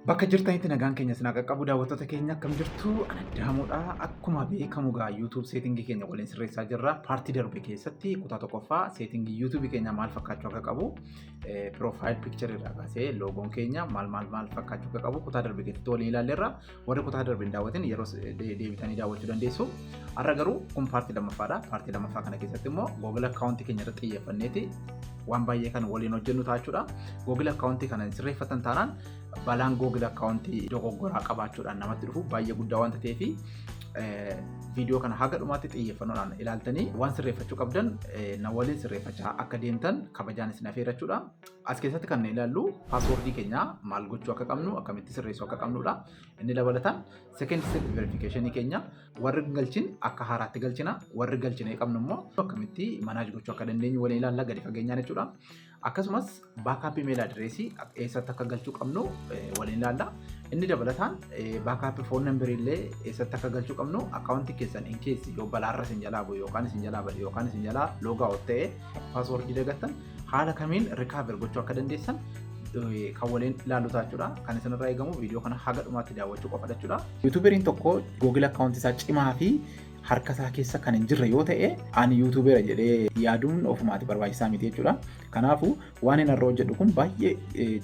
Bakka jirtanitti nagaan keenya isin haa qaqqabu daawwattoota keenya akkam jirtu ana daamuudha akkuma beekamu gaa YouTube seetingii keenya waliin sirreessaa jirra paartii darbe keessatti kutaa tokkoffaa seetingii YouTube keenya maal fakkaachuu akka qabu piroofaayil piikcharii irraa kaasee loogoon keenya maal maal maal fakkaachuu akka qabu kutaa darbe keessatti waliin ilaalleerra Warri kutaa darbe hin daawwatin yeroo deebitanii daawwachuu dandeessu. Har'a garuu kun paartii lammaffaadha. Paartii lammaffaa kana keessatti immoo Google akkaawuntii keenya irratti xiyyeeffanneeti waan baay'ee kan waliin hojjennu taachuudha. Google akkaawuntii kana sirreeffatan taanaan balaan Google akkaawuntii dogoggoraa qabaachuudhaan namatti dhufu baay'ee guddaa waan ta'eef viidiyoo kana haga dhumaatti xiyyeeffannoodhaan ilaaltanii waan sirreeffachuu qabdan na waliin sirreeffachaa akka deemtan kabajaan isin afeerrachuudha. As keessatti kan ilaallu paaswoordii keenya maal gochuu akka qabnu akkamitti sirreessuu akka qabnudha. Inni dabalataan second step verification keenya warri galchin akka haaraatti galchina warri galchina qabnu immoo akkamitti manaaj gochuu akka dandeenyu waliin ilaalla gadi fageenyaan jechuudha. Akkasumas baakaappii meela adireesii eessatti akka galchuu qabnu waliin ilaalla. Inni dabalataan baakaappii foon nambirii illee eessatti akka galchuu qabnu akkaawuntii keessan in keessi yoo balaarra isin jalaa bu'e yookaan isin jalaa bade yookaan isin jalaa loogaa ta'e Paaswordii dagattan haala kamiin rikaaver gochuu akka dandeessan kan waliin ilaallu jechuudha. Kan isinirraa eegamu viidiyoo kana haga dhumaatti daawwachuu qofa jechuudha. Yuutuuberiin tokko Google akkaawuntii isaa cimaa fi harka isaa keessa kan hin jirre yoo ta'e ani yuutuubera jedhee yaaduun ofumaati barbaachisaa miti jechuudha. Kanaafuu waan inni irra hojjedhu kun baay'ee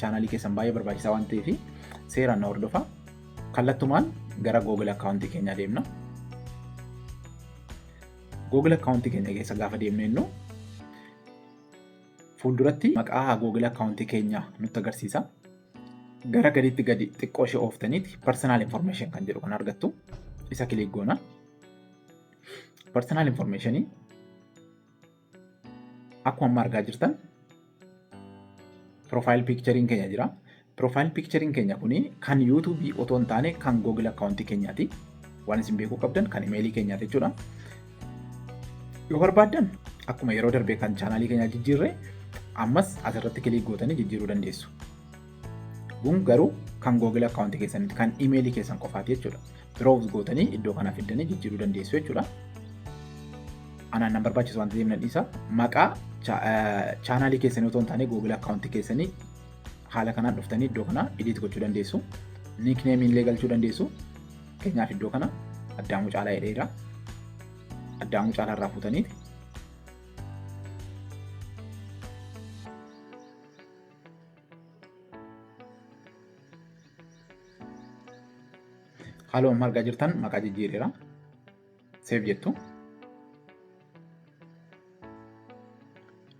chaanaalii keessan baay'ee barbaachisaa waan ta'eef seeraan na hordofa. Kallattumaan gara Google akkaawuntii keenyaa deemna. Google akkaawuntii keenya keessa gaafa deemnu jennu fuulduratti maqaa Google akkaawuntii keenyaa nutti agarsiisa. Gara gadiitti gadi xiqqoo ishee ooftaniiti personal information kan jedhu kan argattu isa kiliik goona. Personal information akkuma amma argaa jirtan Profile picture'n keenya jira. Profile picture'n keenya kuni kan YouTube otoo hin taane kan Google account keenyaati. Waan isin beekuu qabdan kan email keenyaati jechuudha. Yoo barbaaddan akkuma yeroo darbee kan chaanaalii keenyaa jijjiirre ammas asirratti kiliik gootanii jijjiiruu dandeessu. Kun garuu kan Google account keessanitti kan email keessan qofaati jechuudha. browse gootanii iddoo kana fiddanii jijjiiruu dandeessu jechuudha. Anaan nan barbaachisu waan ta'eef nan dhiisa. Maqaa chaanaalii keessanii otoo hin taane Google akkaawuntii keessanii haala kanaan dhuftanii iddoo kana edit gochuu dandeessu. Niikneemii illee galchuu dandeessu. Keenyaaf iddoo kana addaamuu caalaa jedheera. Addaamuu caalaa irraa fuutaniiti. Haaluma amma argaa jirtan maqaa jijjiireera. Seef jettu.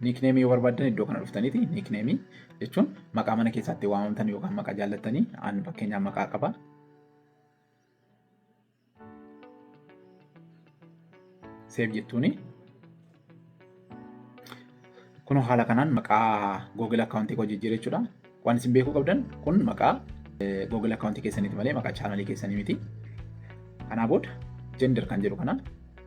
Niikneemii yoo barbaaddan iddoo kana dhuftaniiti. Niikneemii jechuun maqaa mana keessaatti waamamtan yookaan maqaa jaallattanii an fakkeenyaaf maqaa qaba. Seef jettuuni. Kun haala kanaan maqaa Google akkaawuntii koo jijjiiree jechuudha. Waan isin beekuu qabdan kun maqaa Google akkaawuntii keessaniiti malee maqaa chaanalii keessanii miti. Kanaa booda gender kan jedhu kana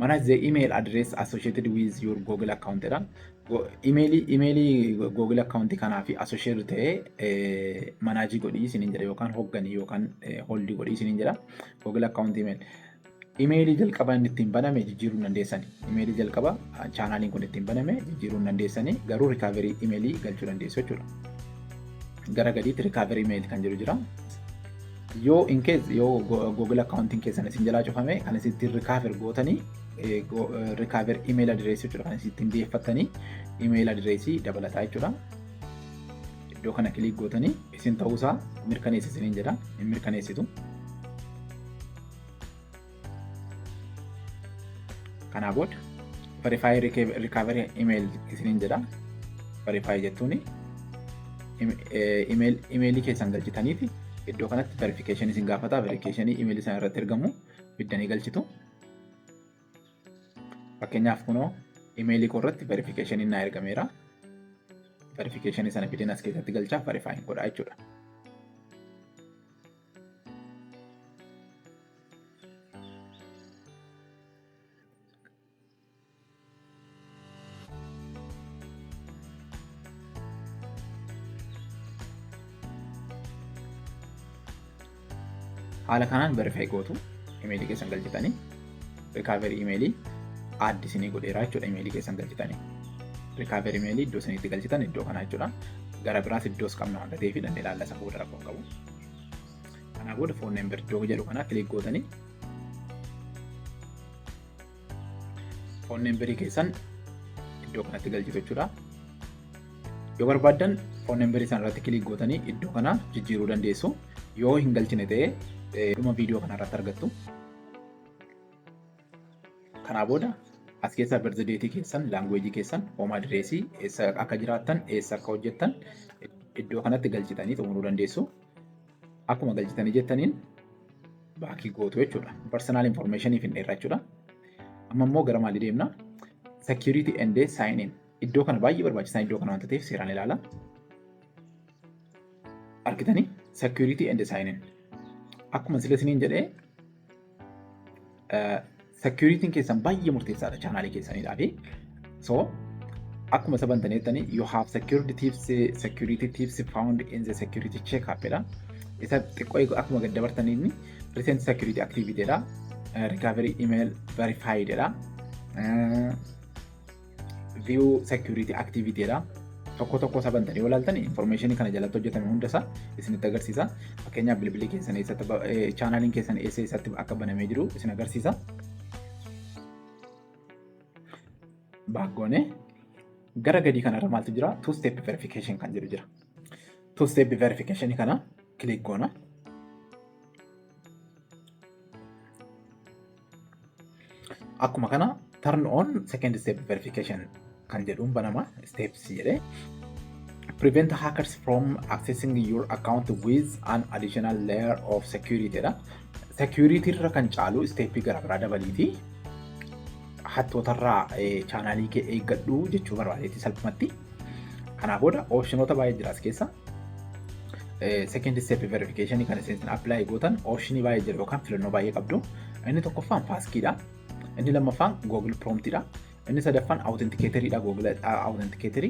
mana the email address associated with your google account dha email email google account kanaa fi associated ta'ee manaajii godhii isiniin jedha yookaan hogganii yookaan holdii godhii isiniin jedha google account email email jalqaba inni ittiin baname jijjiiruu dandeessani email jalqaba chaanaaliin kun ittiin baname jijjiiruu dandeessani garuu rikaaverii email galchuu dandeessu jechuudha gara gadiitti rikaaverii email kan jiru jira yoo in case yoo google accounting keessan isin jalaa cufame kan isin ittiin recover gootanii recover email address jechuudha kan isin ittiin deeffattanii email address dabalataa jechuudha. Iddoo kana kiliik gootanii isin ta'uusaa mirkaneessi isiniin jedha hin mirkaneessitu. Kanaa booda verify recovery email isiniin jedha. Verify jechuun imeelii keessan galchitanii fi iddoo kanatti verification isin gaafata. Verification imeelii sana irratti ergamu biddanii galchitu. Fakkeenyaaf kunoo imeelii koo irratti verification naa ergameera. Verification sana fideen as keessatti galchaa verify godha jechuudha. haala kanaan verify gootu imeelii keessan galchitanii rikaaverii imeelii aaddi isinii godheeraa jechuudha imeelii keessan galchitanii rikaaverii imeelii iddoo isinitti galchitan iddoo kanaa jechuudha gara biraas iddoos qabna waan ta'eef dandee ilaalla isa booda rakkoon qabu. Kanaa booda foon member doo jedhu kanaa kilik gootanii foon memberii keessan iddoo kanatti galchitu jechuudha. Yoo barbaaddan foon memberii sana irratti kilik gootanii iddoo kana jijjiiruu dandeessu. Yoo hin galchine ta'e dhuma viidiyoo kana irratti argattu. Kanaa booda as keessaa birzideetii keessan, laanguweejii keessan, hoomaa direesii, eessa akka jiraattan, eessa akka hojjettan iddoo kanatti galchitanii xumuruu dandeessu. Akkuma galchitanii jettaniin baakii gootu jechuudha. Personal information hin dheerra jechuudha. Amma immoo gara maalii deemna? Security and sign in. Iddoo kana baay'ee barbaachisaa iddoo kana wanta ta'eef seeraan ilaala. Argitanii security and sign in. Akkuma sila isiniin jedhee Securitiin keessan baay'ee murteessaadha chaanaalii keessaniidhaa fi so akkuma isa bantaneettani you have secured tips security tips found in the security check up dha. Isa xiqqoo eegu akkuma gad dabartaniin recent security activity dha. Recovery email verified dha. view security activity dha. Tokko tokko isaa bantanii yoo ilaaltan information kana jalatti hojjetame hunda isaa isinitti agarsiisa. Fakkeenyaaf bilbilli keessan eessatti chaanaaliin keessan eessa eessatti akka banamee jiru isin agarsiisa. Baakgoone gara gadii kanarra maaltu jira? Two step verification kan jedhu jira. Two step verification kana click goona. Akkuma kana turn on second step verification kan jedhuun banama steps jedhee prevent hackers from accessing your account with an additional layer of security dha. Security irra kan caalu step gara biraa dabaliiti. Hattootarraa chaanaalii kee eeggadhu jechuu barbaadeeti salphumatti. Kanaa booda optionoota baay'ee jiraas keessa second step verification kan isin apply gootan option baay'ee jira yookaan filannoo baay'ee qabdu. Inni tokkoffaan paaskiidha. Inni lammaffaan Google Promptidha. Inni sadaffaan Authenticator'idha Google Authenticator.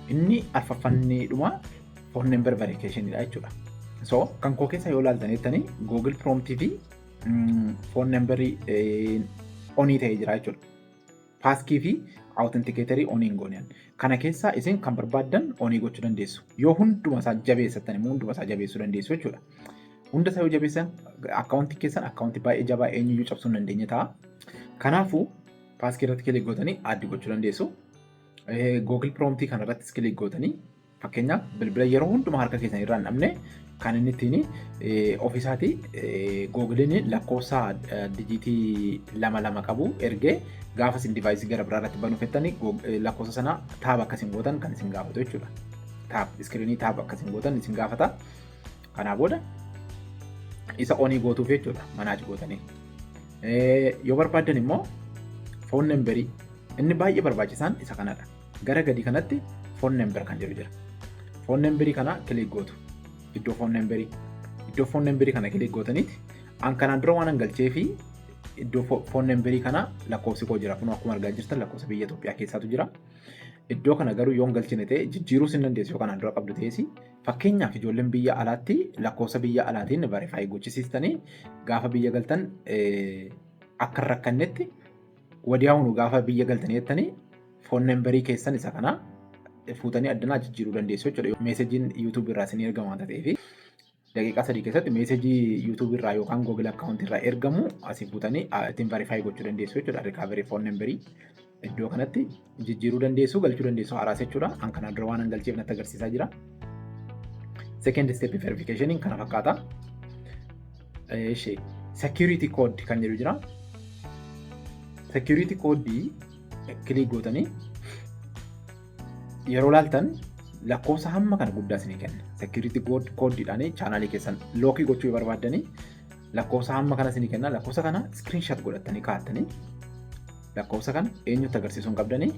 Inni arfaffaan inni dhuma phone number verification'idha jechuudha. So kan koo keessa yoo ilaaltan jettanii Google Prompt fi phone number onii ta'ee jira jechuudha. paaskii fi authenticator on hin goone kana keessaa isin kan barbaaddan on gochuu dandeessu yoo hunduma isaa jabeessatan immoo hunduma isaa jabeessuu dandeessu jechuudha hunda isaa yoo jabeessan akkaawuntii keessan akkaawuntii baay'ee jabaa eenyuyyuu cabsuu hin dandeenye ta'a kanaafuu paaskii irratti kilik gootanii addi gochuu dandeessu Google Promptii kana irrattis kilik gootanii Fakkeenyaaf bilbila yeroo hundumaa harka keessan irraa hin dhabne kan inni ittiin ofiisaati googiliin lakkoofsa dijiitii lama lama qabu ergee gaafa isin divaayisii gara biraa irratti banuu fettanii lakkoofsa sana taab akka isin gootan kan isin gaafatu jechuudha. Taab iskiriinii taab akka isin gootan isin gaafata. Kanaa booda isa onii gootuuf jechuudha manaachi gootanii. Yoo barbaaddan immoo foon nambarii inni baay'ee barbaachisaan isa kanadha. Gara gadi kanatti phone number kan jedhu jira. Phone number kana kilik gootu. Iddoo phone number iddoo phone number kana kilik gootaniiti. An kanaan dura waan hangalchee fi iddoo phone number kana lakkoofsi koo jira. Kun akkuma argaa jirtan lakkoofsa biyya Itoophiyaa keessaatu jira. Iddoo kana garuu yoo hin galchine ta'e jijjiiruu sin dandeessu yoo kanaan dura qabdu ta'es fakkeenyaaf ijoolleen biyya alaatti lakkoofsa biyya alaatiin verify gochisiistanii gaafa biyya galtan akka hin rakkannetti wadiyaawunu gaafa biyya galtanii jettanii foon nambarii keessan isa kana fuutanii addanaa jijjiiruu dandeessu jechuudha. Meesejiin YouTube irraa isin ergamu waan ta'eef daqiiqaa sadii keessatti meesejii YouTube irraa yookaan Google akkaawuntii irraa ergamu asii fuutanii ittiin verify gochuu dandeessu jechuudha. Recovery foon nambarii iddoo kanatti jijjiiruu dandeessu galchuu dandeessu haaraas jechuudha. An kanaan dura waan an galcheef natti agarsiisaa jira. Second step verification kana fakkaata. Ishee security code kan jedhu jira. Security code kilik gootanii yeroo laaltan lakkoofsa hamma kana guddaa isinii kenna. Security code dhaan chaanaalii keessan lookii gochuu barbaadanii Lakkoofsa hamma kana isinii kenna. Lakkoofsa kana screenshot godhattanii kaa'attanii lakkoofsa kana eenyutti agarsiisuu hin qabdanii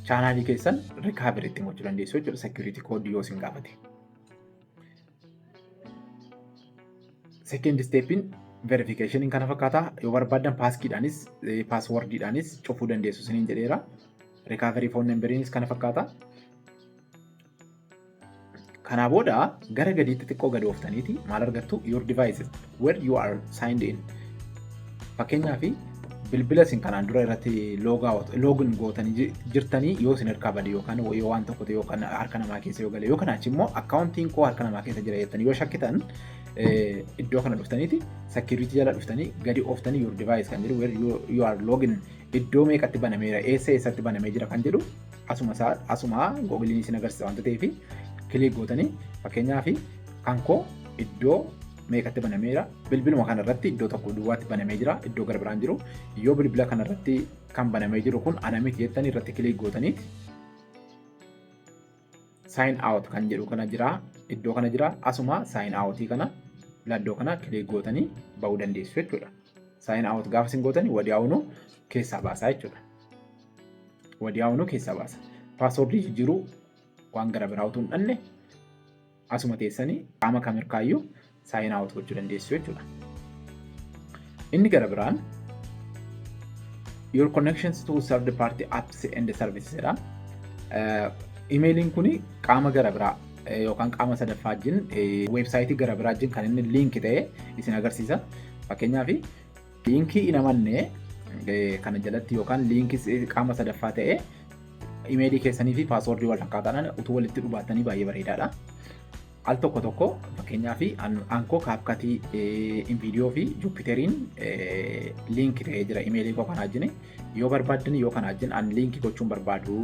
chaanaalii keessan recovery itti gochuu dandeessu jechuudha security code yoo isin gaafate. Second stepin verification kana fakkaata yoo barbaadan paaskiidhaanis paaswordiidhaanis cufuu dandeessu isiniin jedheera. Recovery phone numberiinis kana fakkaata. Kanaa booda gara gadiitti xiqqoo gad ooftaniiti maal argattu your devices where you are signed in. Fakkeenyaaf bilbila isin kanaan dura irratti loogin gootanii jirtanii yoo isin harkaa bade yookaan yoo waan tokko ta'e yookaan harka namaa keessa yoo gale yookaan achi immoo akkaawuntiin koo harka namaa keessa jira jettanii yoo shakkitan iddoo kana dhuftaniiti sakiriitii jala dhuftanii gadi ooftanii your device kan jedhu where you are loogin iddoo meeqatti banameera eessa eessatti banamee jira kan jedhu asuma isaa asuma googiliin isin agarsiisa wanta ta'eef kiliik gootanii fakkeenyaaf kan koo iddoo meeqatti banameera bilbiluma kana irratti iddoo tokko duwwaatti banamee jira iddoo gara biraan jiru yoo bilbila kana irratti kan banamee jiru kun ana miti jettanii irratti kiliik gootanii sign out kan jedhu kana jira iddoo kana jira asuma sign out kana laddoo kana kiliik gootanii ba'uu dandeessu jechuudha sign out gaafa isin gootanii wadiyaa'uun keessaa baasaa jechuudha. Wadiyaawunuu keessaa baasa. Paaswordii jijjiiruu waan gara biraa utuu hin dhanne asuma teessanii qaama kam hirkaayyuu saayinaa awut gochuu dandeessu jechuudha. Inni gara biraan your connections to third party apps and services jedha. Imeeliin kun qaama gara biraa yookaan qaama sadaffaa wajjin weebsaayitii gara biraa wajjin kan inni liinki ta'e isin agarsiisa. Fakkeenyaaf Liinkii hin amanne kana jalatti yookaan liinkii qaama sadaffaa ta'e imeelii keessanii fi paaswoordii wal fakkaataadhaan utuu walitti dhubaattanii baay'ee bareedaadha. Al tokko tokko fakkeenyaaf aankoo kaapkatii inviidiyoo fi juupiteriin liinki ta'ee jira imeelii koo kanaa jine yoo barbaaddan yoo kanaa jin an liinki gochuun barbaadu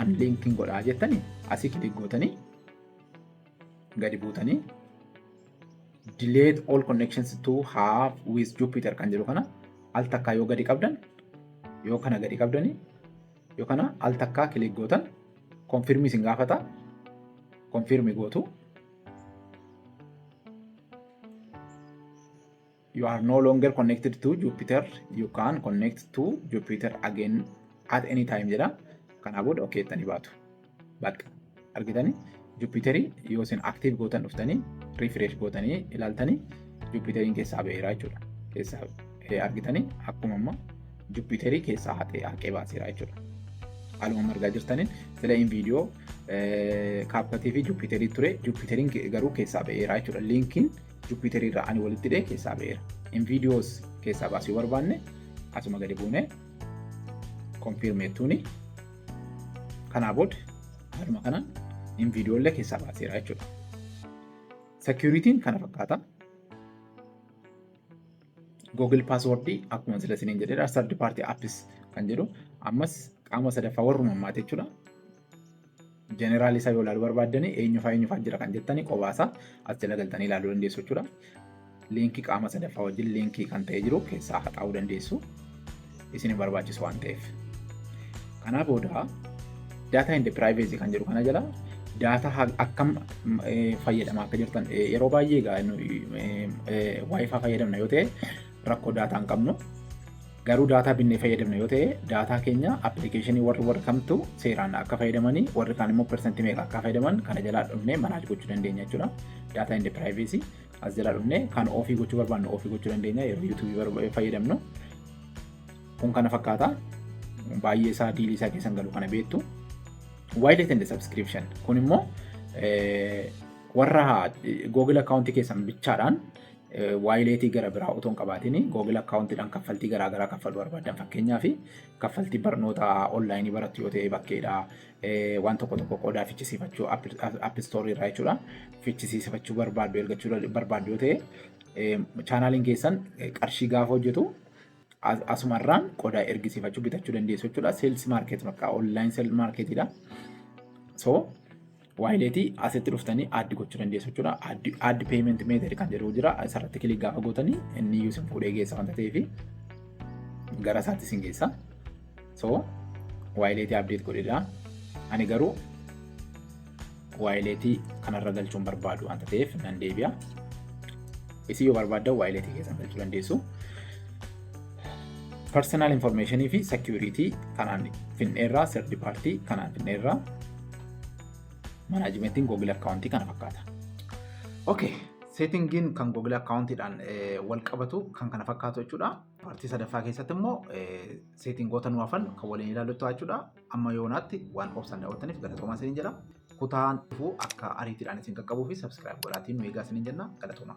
an liinkiin godhaa jettani asii kilik gootanii gadi buutanii delete all connections to have with Jupyter kan jedhu kana al takkaa yoo gadi qabdan yoo kana gadi qabdanii yoo kana al takkaa kilik gootan konfirmii isin gaafata konfirmii gootu you are no longer connected to Jupiter you can connect to Jupiter again at any time jedha kanaa booda ok jettanii baatu bakka argitanii Jupiterii yoo isin active gootan dhuftanii refresh gootanii ilaaltanii Jupiteriin keessaa ba'eera jechuudha keessaa argitanii akkuma amma Jupiterii keessaa haqee haqee baaseera jechuudha. Haaluma margaa jirtaniin sila in viidiyoo kaappatii fi Jupiterii ture Jupiteriin garuu keessaa ba'eera jechuudha liinkiin Jupyter irraa ani walitti hidhee keessaa ba'eera. In videos keessaa baasuu yoo barbaanne asuma gadi buune confirm jettuuni. Kanaa booda haaluma kanaan in video illee keessaa baaseera jechuudha. Security'n kana fakkaata. Google password akkuma sila isiniin jedheedha. Third party apps kan jedhu ammas qaama sadaffaa warruma ammaati jechuudha. Jeneraal isaa yoo ilaalu barbaaddanii eenyufaa eenyufaa jira kan jettanii qobaasaa as jala galtanii ilaaluu dandeessu jechuudha. Liinkii qaama sadaffaa wajjin liinkii kan ta'e jiru keessaa haxaa'uu dandeessu. Isin barbaachisu waan ta'eef. Kanaa booda daataa indi piraayiveesii kan jedhu kana jala daataa akkam fayyadamaa akka jirtan yeroo baay'ee egaa waayifaa fayyadamna yoo ta'e rakkoo daataa hin qabnu. Garuu daataa binnee fayyadamna yoo ta'e daataa keenya appilikeeshinii warri warri kamtu seeraan akka fayyadamanii warri kaan immoo persentii meeqa akka fayyadaman kana jalaa dhufnee manaaj gochuu dandeenya jechuudha. Daataa inni piraayiveesii as jalaa dhufnee kan ofii gochuu barbaannu ofii gochuu dandeenya yeroo yuutuubii fayyadamnu. Kun kana fakkaata baay'ee isaa diilii isaa keessan galu kana beektu. Waayilii tende sabskiripshan kun immoo warra Google akkaawuntii keessan bichaadhaan waayileetii gara biraa otoo hin qabaatiin Google akkaawuntiidhaan kaffaltii garaa garaa kaffaluu barbaadan fakkeenyaaf kaffaltii barnoota onlaayinii barattu yoo ta'e bakkeedha waan tokko tokko qoodaa fichisiifachuu appistoorii irraa jechuudha fichisiifachuu barbaaddu ergachuu barbaaddu yoo ta'e chaanaaliin keessan qarshii gaafa hojjetu As- Asumarraan qodaa ergisiifachuu bitachuu dandeessu jechuudha. Sales market bakka online sales market dha. So waayileetii asitti dhuftanii addi gochuu dandeessu jechuudha. Addi addi payment method kan jedhu jira. Isarratti kilik gaafa gootanii inni iyyuu isin fuudhee geessa wanta ta'eef gara isaatti isin geessa. so waayileetii abdeet godhedha ani garuu waayileetii kanarra galchuun barbaadu wanta ta'eef nan deebi'a isii yoo barbaaddan waayileetii keessan galchuu dandeessu personal information fi security kanaan finneerraa sirdi paartii kanaan finneerraa manaajimentiin google akkaawuntii kana fakkaata okay seetingiin kan google akkaawuntiidhaan wal qabatu kan kana fakkaatu jechuudha paartii sadaffaa keessatti immoo seetingoota nu hafan kan waliin ilaallu ta'a jechuudha. Amma yoonaatti waan obsaan daawwattaniif galatoomaa isiniin jedha. Kutaan dhufuu akka ariitiidhaan isin qaqqabuu fi sabskiraayib godhaatiin nu eegaa isiniin jenna galatoomaa.